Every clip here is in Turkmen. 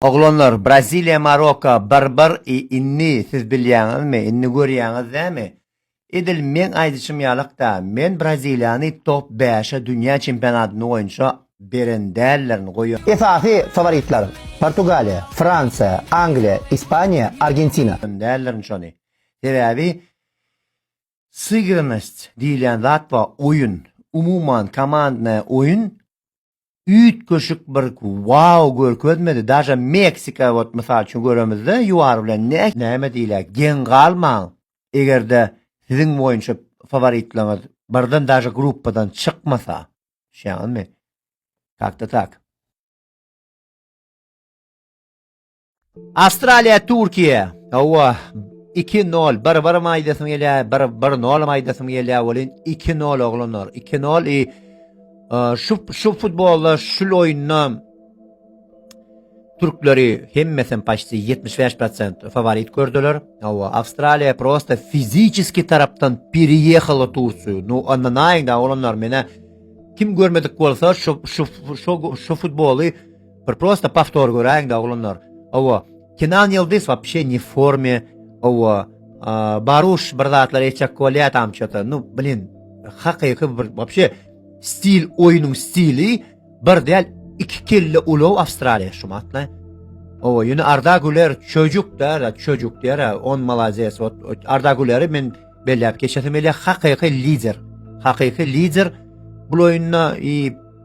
Oglanlar Braziliýa Marokko bir bir i inni siz bilýäňizmi inni görýäňiz näme edil meň aýdyşym ýalakda men Braziliýany top bäşe dünýä çempionatyny boýunça beren däldirin goýa. Esasy faworitler Portugaliýa, Fransiýa, Angliýa, Ispaniýa, Argentina. Däldirin şony sebäbi sygrynost diýilýän zat bar oýun umuman komandnaýa oýun üýtgeşik bir wow görkezmedi daže meksika ot mysal üçin göremizde ýuar bilen ne näme diýilä geň galmaň egerde siziň boýunça faworitleňiz birden daže gruppadan çykmasa düşýäňizmi tak da tak Awstraliýa Türkiýe. Hawa, 2-0 bir-bir maýdasyň gelýä, bir 1-0 maýdasyň gelýä welin 2-0 oglanlar. 2-0 e, şu şu futbolda şu oýunda türkleri hemmesi paşty 75% favorit gördüler. Hawa, Awstraliýa prosta fiziki tarapdan periýehalo Türkiýe. No, ondan aýda oglanlar menä kim görmedik bolsa şu şu şu şu futboly Bir prosta pawtor göräýiň da oglanlar. Owa, Kenan Ýyldyz wapşe ne forme. Owa, Baruş bir zatlar etjek bolýa tam çota. Nu, blin, hakyky bir wapşe stil oýnuň stili bir däl iki kelle ulag Awstraliýa şu matla. Owa, ýöne Arda Güler çocuk da, çocuk diýär, on malades. Arda Güleri men belläp geçesim gelýär, hakyky lider. Hakyky lider bu oýunda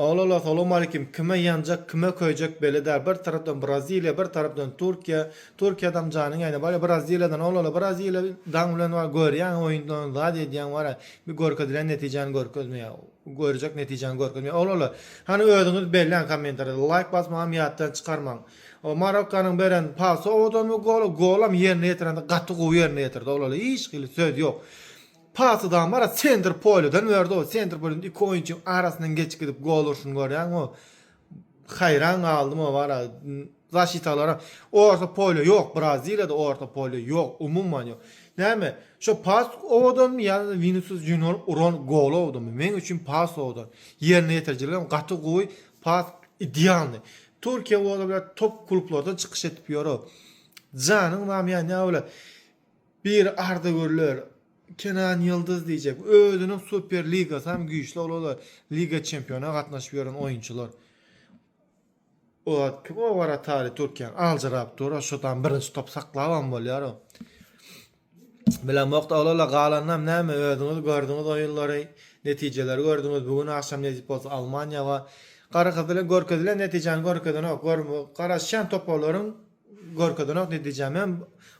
Olala salowmalikim kime ýanjak kime köýjek belli däl bir tarapdan braziliýa bir tarapdan turkiýa turkiýadam janyň äýne barýa braziliýadan olala braziliýa daň bilen bar görýäňä oýunlaryny zat edýäň barä bir görkezilen netijäni görkezmeýä görjek netijäni görkezmeýä olala hany özüňiz belläň kommentariýada laýk basmagam ýatdan çykarmaň o marokkanyň beren pasowadanmy goly golam ýerine ýetirende gaty gowy ýerine ýetirdi olala hiç hili söz ýok Pasy Damara sentr polýadan berdi-ow, sentr polýada iki oýunçyň arasyndan geçip gidip gol urşuny görýäň-ow. Haýran galdym-ow wara. Zaşitalaram orta polýa ýok, Braziliýada orta polýa ýok, umuman ýok. Näme, şo pas owadanmy ýa-da Winisius Junior uran gol owadanmy? Meň üçin pas owadan. Ýerine ýetirijiligem gaty gowy, pas idealnyý. Türkiýe ola biler top klublarda çykyş edip ýör-ow. Janyň bamy ýanýar welin, Bir arzygürler Kenan Ýyldyz diýjek. Özüniň Super Ligasy hem güýçli olar-da Liga Çempiona gatnaşyp ýören oýunçylar. O kim o waratary Türkiýäň aljyrap dur-a şu tam birinji top saklabam bolýar o. Bilemok-da olarla galanynam näme özüňiz gördüňiz oýunlary, netijeleri gördüňiz. Bu gün agşam nesip bolsa Almaniýa bar. Gara gyzyly görkezilen netijäni görkezenok. Garaşýan toparlaryň Görkezenok netijäm hem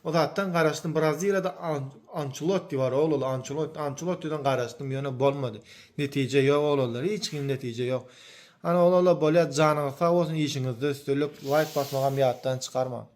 o zatdan garaşdym braziliýada ançeloti bar oglaly ançeloti ançelotiden garaşdym ýöne bolmady netije ýok oglalar hiç kim netije ýok ana oglalar bolýar janyňyz sag bolsun işiňizde üstünlik laýk basmagam ýatdan çykarmaň.